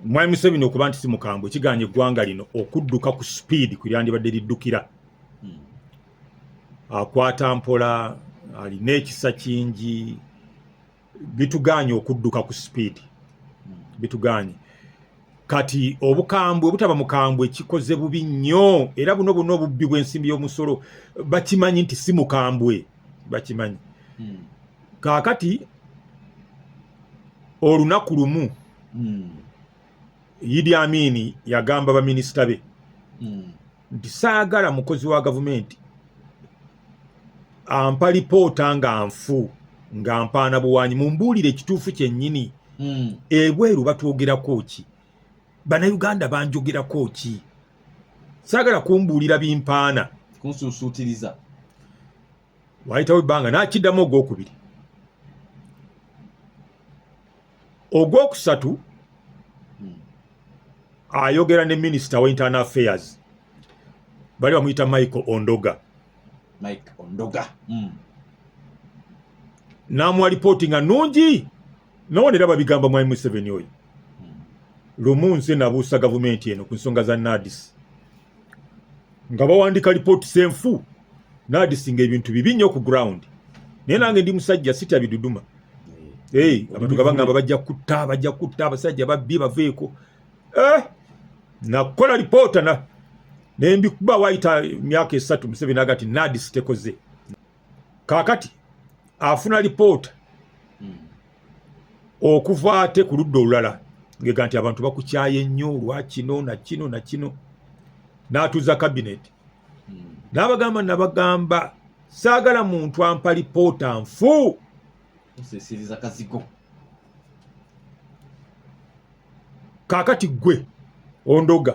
Mwami Museveni okuba nti si mukambwe kiganye eggwanga lino okudduka ku sipiidi ku lyandibadde liddukira hmm. akwata mpola alina ekisa kingi bituganye okudduka ku sipiidi hmm. bituganye kati obukambwe obutaba mukambwe kikoze bubi nnyo era buno buno obubbi bw'ensimbi y'omusolo bakimanyi nti si mukambwe bakimanyi hmm. kaakati olunaku lumu mm. Idi Amini yagamba baminisita be mm. nti saagala mukozi wa gavumenti ampa lipoota nga nfu nga mpaana buwanyi mumbuulire ekituufu kyennyini mm. ebweru batwogerako ki banauganda banjogerako ki saagala kumbuulira bimpaana kunsuusuutiriza wayitawo ebbanga nakiddamu ogwokubiri ogwokusatu hmm. ayogera ne minisita wa internal affairs bali bamuyita michael ondoga mike ondoga mm. namuwa lipooti nga nungi nowona era babigamba mwami museveni oyo hmm. lumu nze nabuusa gavumenti eno ku nsonga za nadis nga bawandiika lipooti senfu nadisinga ebintu bibi nnyo ku ground naye nange ndi musajja sitya biduduma eh, abantu nga bagamba bajja kutta bajja kutta abasajja babbi baveeko eh, nakola lipoota nembikuba wayita emyaka esatu museveni agati nadis tekoze kaakati afuna lipoota hmm. okuva ate ku ludda olulala ngega nti abantu bakukyaye nnyo olwa kino na kino na kino n'atuuza kabineti hmm. n'abagamba nabagamba saagala muntu ampa lipoota nfu osesiriza kazigo kakati gwe ondoga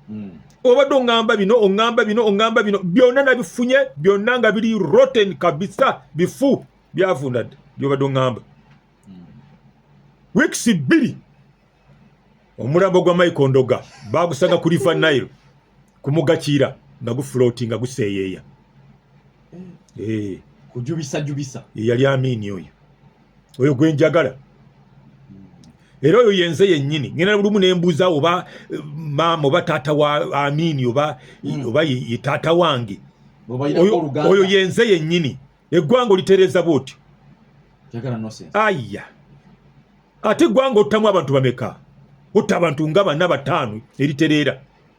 mm. obadde oŋamba bino oŋamba bino oŋamba bino byonna nabifunye byonna nga biri roten kabisa bifu byavundadde byobadde oŋamba hmm. weeks bbiri omulambo gwa michael ndoga bagusanga ku river nile kumugakiira nga gufuloti nga guseeyeeya eh. Eh. kujubisa jubisa yeyali amiini oyo oyo gwe njagala era oyo yenze yennyini ngenda lumu nembuuza oba eh, maama oba taata wa amiini oba hmm. oba ye taata wange oyo yenze yennyini eggwanga olitereeza bwotyo aya ate eggwanga ottamu abantu bameka otta abantu nga bana bataano eritereera